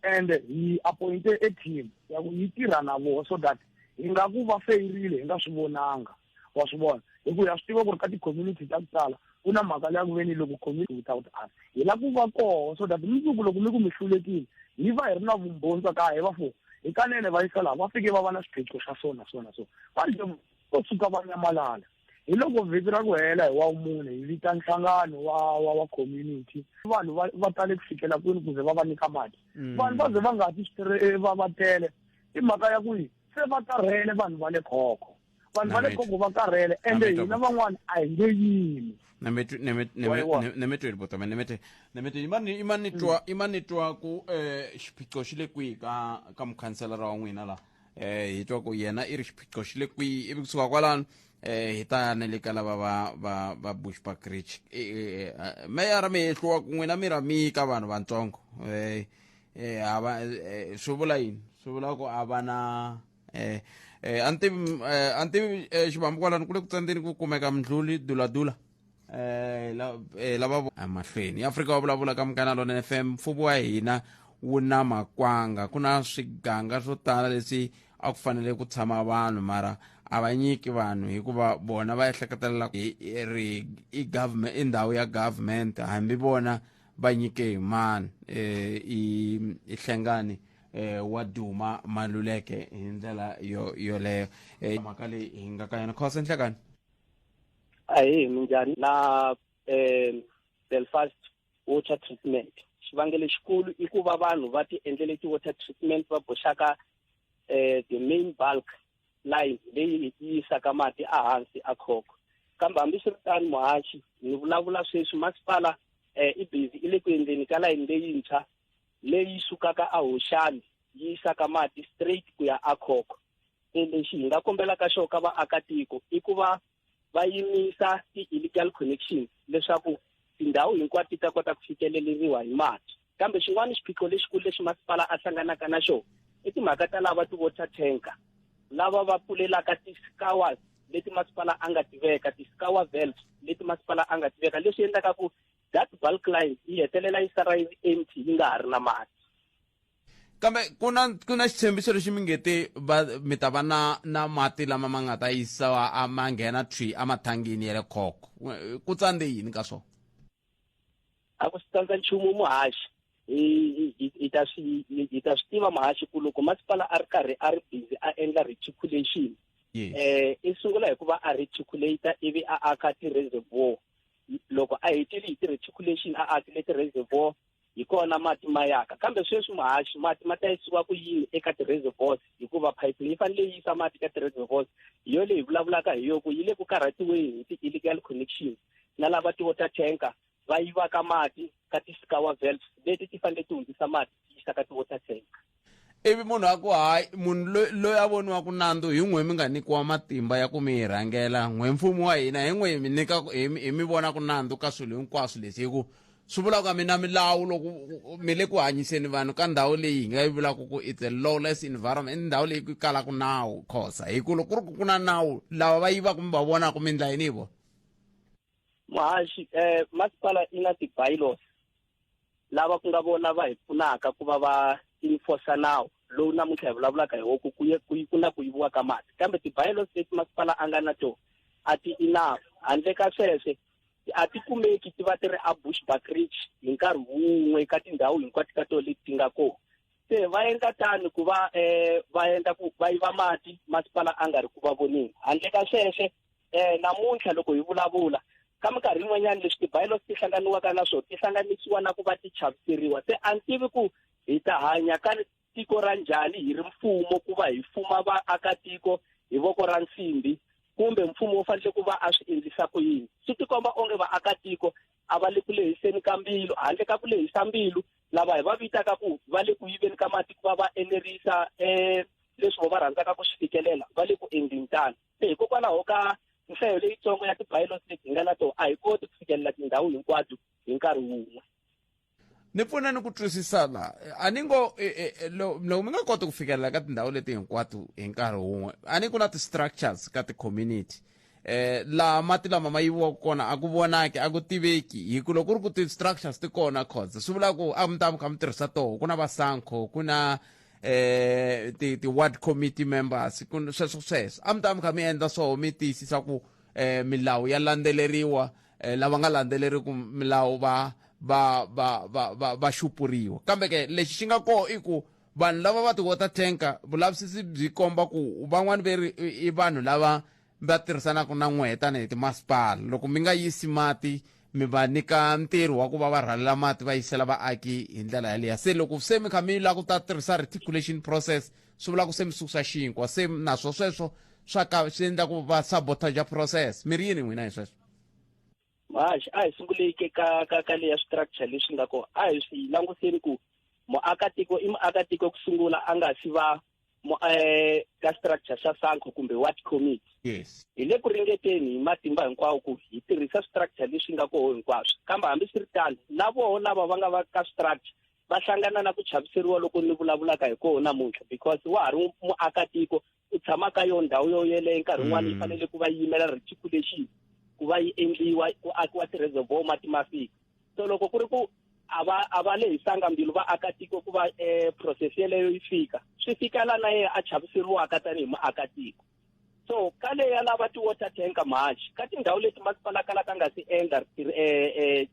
and hi appointe a team ya ku yi tirha na vona so that hi nga ku va feyirile hi nga swi vonanga wa swi vona hi ku ya swi tiva ku ri ka ti-community ta ku tala ku na mhaka leya ku ve ni loko community without us hi la ku va koho so that mundzuku loko mi ku mi hlulekile hi va hi ri na vumbhoni swa ka hi va fo hi kanene va yisa laha va fike va va na swiphiqo swa so na so na so va nje vo tshuka va nyamalala hi loko vhiki ra ku hela hi wa mune hi vita nhlangano wa wa wa community vanhu va va tale ku fikela kwini kuze va va nyika mati mm. vanhu va ze va nga ti eh, va va tele i mhaka ya ku yi se va karhele vanhu va le khokho vanhu va le kongo va karhele ende hina van'wana a hi nge yimi nemetweni botome nemete nemetweni imani imani twa imani twa ku eh xiphiqo xi le kwihi ka ka mukhanselara wa n'wina la eh hi twa ku yena i ri xiphiqo xi le kwihi ivi kusuka kwalano eh hi ta ne le ka lava va va va bushback rich meyara mi hehliwa ku n'wina mi ra mi ka vanhu vantsongo eh eh hava swi vula yini swi vula ku a va na eh, eh, a ni tivi eh, a ni tivi eh, xivambu kwalani ku le ku tsandzeni ku kumeka mdluli duladula eh, la, eh, lava vo- emahlweni afrika wa vulavula ka mukana lona fm mfumo wa hina wu na makwanga ku na swiganga swo tala leswi a ku fanele ku tshama vanhu mara a va nyiki vanhu hikuva bona va ehleketelela ku i- i- ri i government i ndhawu ya government hambi vona va nyike hi mani eh, i i hlengani eh, wa duma maluleke hi ndlela yo yoleyo eh, mhaka leyi hi nga ka yona khosa nhlekani ahi minjhani na eh, belfast water treatment xivangelo xikulu i ku va vanhu va ti endlele ti-water treatment va boxaka eh, the main bulk line leyi yi yisaka mati ehansi a khoko kambe hambiswiritano muhaxi ni vulavula sweswi masipala eh, i busy i le ku endleni ka layini leyintshwa leyi sukaka a Hoxani yi yisaka mati straight ku ya a Khokho se lexi hi nga kombelaka xo ka vaakatiko i ku va va yimisa ti-illegal connections leswaku tindhawu hinkwato ti ta kota ku fikeleleriwa hi mati kambe xin'wana xiphiqo lexikulu lexi masipala a hlanganaka na xona i timhaka ta lava ti-water tanker lava va pfulelaka ti-scowers leti masipala a nga tiveka ti-scower valves leti masipala a nga tiveka leswi endlaka ku that bulk line yi hetelela yi sala yi empty yi nga ha ri na mati kambe ku na ku na xitshembiso lexi mi nge te va mi ta va na na mati lama ma nga ta yisiwa a ma nghena thwi emathangini ya le khoko ku tsandze yini ka swona a ku swi tsandza nchumu muhaxi hi ta swi hi ta swi tiva muhaxi ku loko masipala a ri karhi a ri busy a endla reticulation um i sungula hi ku va a reticulata ivi a aka ti-reservoir loko a hetile hi ti-reticulation a akile ti-reservoir hi kona mati ma yaka kambe sweswi muhaxi mati ma ta yisiwa ku yini eka ti-reservoirs hikuva phayiphi yi fanele yi yisa mati ka ti-reservoirs hi yo leyi vulavulaka hi yoku yi le ku karhatiweni hi ti-illegal connection na lava ti-water tanker va yivaka mati ka ti-scour valves leti ti fanele ti hundzisa mati ti yisa ka ti-water tanker ivi munhu a ku hayi munhu loyi loyi a voniwaka nandzu hi n'we mi nga nyikiwa matimba ya ku mi yi rhangela n'we mfumo wa hina hi n'we hi mi nyika ku- hi mi- hi mi vona ku nandzu ka swilo hinkwaswo leswi hi ku swi vula ku a mi na milawu loko mi le ku hanyiseni vanhu ka ndhawu leyi hi nga yi vulaka ku it's a lawless environment i ndhawu leyi ku kalaka nawu khosa hi ku loko ku ri ku ku na nawu lava va yivaka mi va vonaka mi endla yini hi vona muhaxi eh, masipala i na ti-bylaws lava ku nga vona va hi pfunaka ku va va enforce nawu lowu namuntlha hi vulavulaka hi woku ku ku ku na ku yiviwa ka mati kambe ti-bylaws leti masipala a nga na to a ti enough handle ka sweswe a ti kumeki ti va ti ri a bush buckridge hi nkarhi wun'we ka tindhawu hinkwato ka tona leti ti nga kona se va endla tani ku va um va endla ku va yiva mati masipala a nga ri ku va voneni handle ka sweswe um namuntlha loko hi vulavula ka minkarhi yin'wanyana leswi tibayilo ti hlanganiwaka na swona ti hlanganisiwa na ku va ti chaviseriwa se a ni tivi ku hi ta hanya ka tiko ra njhani hi ri mfumo ku va hi fuma vaakatiko hi voko ra nsimbi kumbe mfumo wu fanele ku va a swi endlisa ku yini swi tikomba onge vaakatiko a va le ku lehiseni ka mbilu handle ka ku lehisa mbilu lava hi va vitaka ku va le ku yiveni ka mati ku va va enerisa um leswi vo va rhandzaka ku swi fikelela va le ku endleni tano se hikokwalaho ka nhlayo leyitsongo ya ti-pilots leti hi nga na tona a hi koti ku fikelela tindhawu hinkwato hi nkarhi wun'we ni pfuna ni ku twisisa la a ni ngo e, e, e, loko mi nga koti ku fikelela ka tindhawu leti hinkwato hi nkarhi wun'we a ni ku na ti-structures ka ti-community eh laha mati lama ma yiviwaka kona a ku vonaki a ku tiveki hi ku loko ku ri ku ti-structures ti kona cause swi vula ku a mi ta mi kha mi tirhisa toho ku na vasankho ku na eh ti ti ward committee members ku sweswo sweswo a mi ta mi kha mi endla swoho mi tiyisisa ku eh milawu ya landzeleriwa eh, lava nga landzeleriku milawu va va va va va, va xupuriwa kambe ke lexi xi nga koho i ku vanhu lava va ti-water tanker vulavisisi byi komba ku van'wani ve ri i vanhu lava mi ta tirhisanaka na n'wehe tanihi timasipala loko mi nga yisi mati mi va nyika ntirho wa ku va va rhalela mati va yisela vaaki hi ndlela yaleya se loko se mi kha mi lava ku ta tirhisa reticulation process swi vula ku se mi susa xinkwa se naswo sweswo swa ka swi endla ku va sabotaja process mi ri yini n'wina hi sweswo haxi a hi sunguleke ka ka ka leya structure leswi nga ko a hi swi languseni ku muakatiko i muakatiko ku sungula a nga si va eh, ka structure xa sanko kumbe ward committee yes hi le ku ringeteni hi matimba hinkwawo ku hi tirhisa structure leswi nga koho hinkwaswo kambe hambi swi ri tano na voho lava va nga va ka structure va hlangana na ku chaviseriwa loko ni vulavulaka hi koho namuntlha because wa ha ri muakatiko u tshama ka yona ndhawu yo yeleyo nkarhi wun'wana yi fanele ku va yi yimela reticulation ku va yi endliwa ku akiwa ti-reservoir mati ma fika so loko ku ri ku a va a va lehisanga mbilu vaakatiko ku va um process yeleyo yi fika swi fika la na yena a chaviseriwaka tanihi muakatiko so ka leya lava ti-water tanker march ka tindhawu leti masipala kala ka nga si endla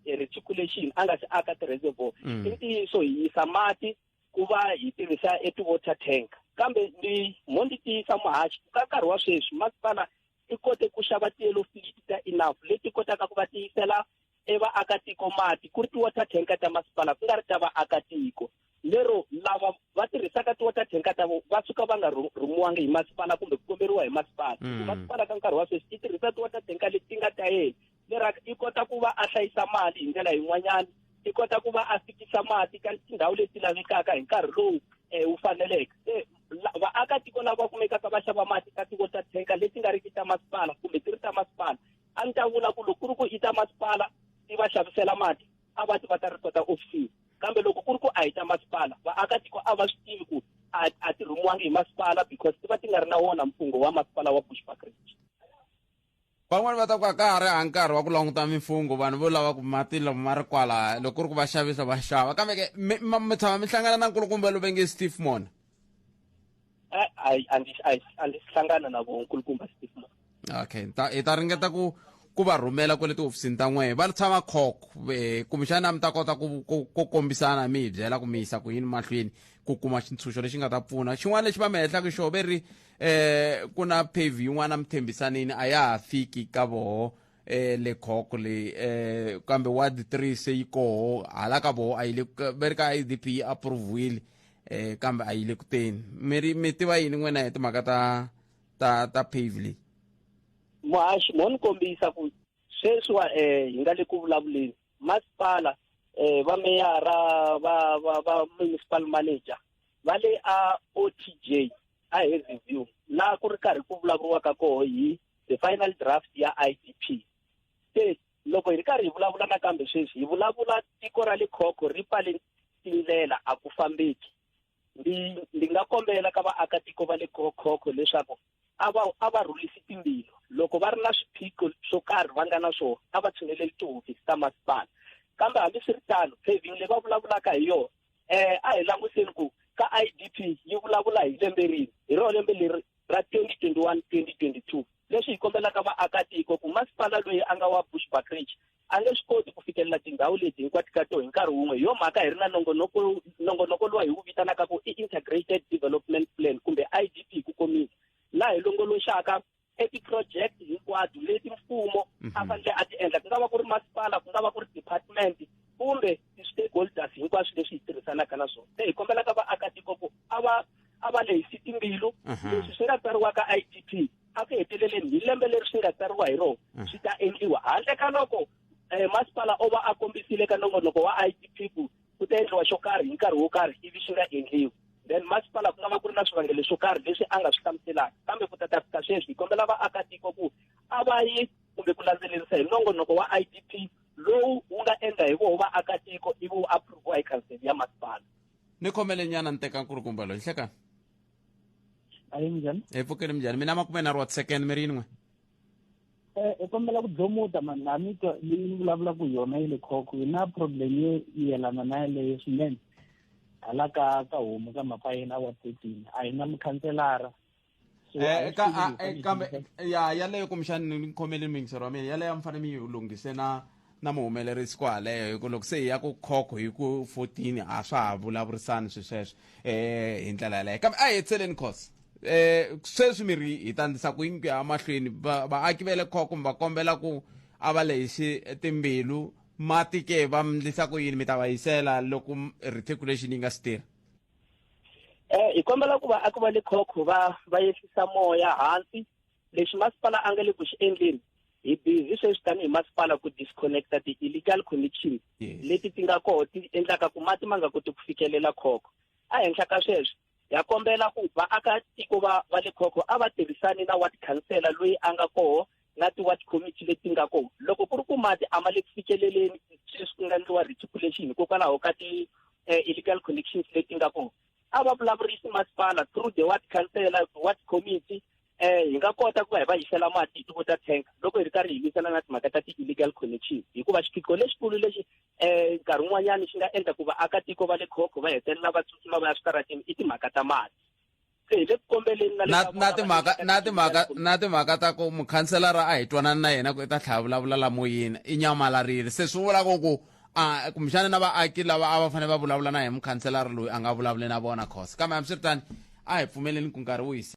reticulation a nga si aka ti-reservoir i ntiyiso hi yisa mati ku va hi tirhisa e ti-water tank kambe ni mo ni tiyisa muhaxi ka nkarhi wa sweswi masipala i kote ku xava tiyelo filiti ta enough leti kotaka ku va tiyisela e vaakatiko mati ku ri ti-water tanka ta masipala ku nga ri ta vaakatiko lero lava va tirhisaka ti-water tanka ta vo va suka va nga rhumiwangi hi masipala kumbe ku komberiwa hi masipala mm. masipala ka nkarhi wa sweswi ti tirhisa ti-water tanka leti nga ta yena leraka i kota ku va a hlayisa mali hi ndlela yin'wanyana i kota ku va a fikisa mati ka tindhawu leti lavekaka hi nkarhi lowu um wu faneleke se vaakatiko lava kumekaka va xava mati ka tiko ta thenka leti nga riki ta masipala kumbe ti ri ta masipala a ni ta vula ku loko ku ri ku i ta masipala ti va xavisela mati a va ti va ta ripota ofisini kambe loko ku ri ku a hi ta masipala vaakatiko a va swi tivi ku a ti rhumiwangi hi masipala because ti va ti nga ri na wona mfungho wa masipala wa bushbuckridge Van'wana va ta ku a ka ha ri ha nkarhi wa ku languta mimfungho vanhu vo lava ku mati lomu ma ri kwalaya loko ku ri ku va xavisa va xava kambe ke mi ma- mi tshama mi hlangana na nkulukumba lowu ve nge steve mona Eh, a a ndzi a ndzi- a ndzi hlangana na vo nkulukumba steve Moore. okay hi ta hi ta ringeta ku ku va rhumela kwale tihofisini ta n'wehe va tshama cock eh, kumbexana mi ta kota ku ku- ku kombisana mi hi byela ku mi yisa ku yini mahlweni ku kuma xintshunxo lexi nga ta pfuna xin'wana lexi va mi hehlaka xo ve ri eh ku na pave yin'wana mithembisanini a ya ha fiki ka voho eh le khoko le eh kambe ward 3 se yi koho hala ka voho a yi le ku- ve ri ka idp yi approviwile eh kambe a yi le kuteni mi ri mi tiva yini n'wina hi timhaka ta ta ta pave leyi muhaxi mo ni kombisa ku sweswiwa um hi nga le ku vulavuleni masipala um va meyara va va va municipal manager va le a o t j a hi review laha ku ri karhi ku vulavuriwaka koho hi the final draft ya i d p se loko hi ri karhi hi vulavula nakambe sweswi hi vulavula tiko ra le khokho ri pfale tindlela a ku fambeki ndi ndi nga kombela ka vaakatiko va le khokho leswaku a va a va rhulisi timbilu loko va ri na swiphiqo swo karhi va nga na swona a va tshineleli tihofisi ta masipala kambe hambiswiritano paving leyi va vulavulaka hi yona eh a hi languteni ku ka idp yi vulavula hi lembe rini hi rona lembe leri ra 2021 2022 leswi hi kombelaka vaakatiko ku masipala loyi a nga wa bushbackridge a nge swi koti ku fikelela tindhawu leti hinkwato ka to hi nkarhi wun'we hi yo mhaka hi ri na nongonoko nongonoko lowa hi wu vitanaka ku i integrated development plan kumbe idp ku komisa laha hi longoloxaka e ti-project hinkwato leti mfumo a mhm. fanele a ti endla ku nga va ku ri masipala ku nga va ku ri department kumbe ti-stakeholders hinkwaswo leswi hi tirhisanaka na swona se hi kombelaka vaakatiko ku a va a va lehisi timbilu mhm. leswi swi nga tsariwaka i d p a ku heteleleni hi lembe leri swi nga tsariwa hi rona mhm. swi ta endliwa handle ka loko um masipala o va a kombisile ka nongonoko wa i d p ku ku ta endliwa xo karhi hi nkarhi wo karhi ivi xi nga endliwi then masipala ku nga va ku ri na swivangelo swo karhi leswi a nga swi hlamuselaka kambe ku ta ta fika sweswi hi kombela vaakatiko ku a va yi kumbe ku landzelerisa hi nongonoko wa i d p lowu wu nga endla hi voho vaakatiko ivi wu approviwa hi khanseli ya masipala ni khomele nyana ni teka nkulukumba loyi hlekani ayi minjhani hi pfukeni minjhani mina makume na ri wa second mi ri yin'we Eh, hi kombela ku dlomuta mani laha mi twa leyi ni vulavulaka hi yona yi le khokho hi na problem yo yelana na yeleyo swinene hala ka ka homu ka mhaka yena a wa thirteen a hi na mukhanselara So, a hi Eh, ka swi a- tivi eh, hi kambe fanele hi- ya yaleyo kumbexani ni khomele mixer wa mina yaleyo a mi fanele mi yi lunghise na na muhumelerisi ku haleyo hi ku loko se hi ya ku khokho hi ku 14 a swa ha vulavurisani swi sweswo um hi ndlela yaleyo kambe a hi hetseleni khosi um sweswi mi ri hi tandzisa ku yingi ya mahlweni vaaki va le khokho mi va kombela ku a va lexi timbilu mati ke va mndlisa ku yini mi ta va yisela loko reticulation yi nga si tirha um hi kombela ku vaaki va le khokho va va yehlisa moya hansi lexi masipala a nga le ku xi endleni hi busy sweswi tanihi masipala ku disconnecta ti-illegal connections yes. leti ti nga koho ti endlaka ku mati ma nga koti ku fikelela khoko ehenhla ka sweswo ya kombela ku vaakatiko va va le khoko a va tirhisani na ward councela loyi a nga koho na ti-ward committee leti nga koho loko ku ri ku mati a ma le ku fikeleleni sweswi ku nga endliwa reticulation hikokwalaho ka ti-illegal eh, connections leti nga koho a va vulavurisi masipala through the ward councillor ward committee um hi nga kota ku va hi va yisela mati hi tivo ta tank loko hi ri karhi hi lwisana na timhaka ta ti-illegal connection hikuva xiphiqo lexikulu lexi um nkarhi wun'wanyana xi nga endla ku vaakatiko va le khokho va hetelela va tsutsuma va ya switaratini i timhaka ta mati se hi le ku kombeleni na timhaka na timhaka na timhaka ta ku mukhanselara a hi twanani na yena ku i ta tlhaya vulavula lamoyini i nyamalarile se swi vula ku ku a kumbexana na vaaki lava a va fanele va vulavula na hi mukhanselara loyi a nga vulavuli na vona khosa kambe hambiswiritani a hi pfumeleni ku nkarhi wu hisa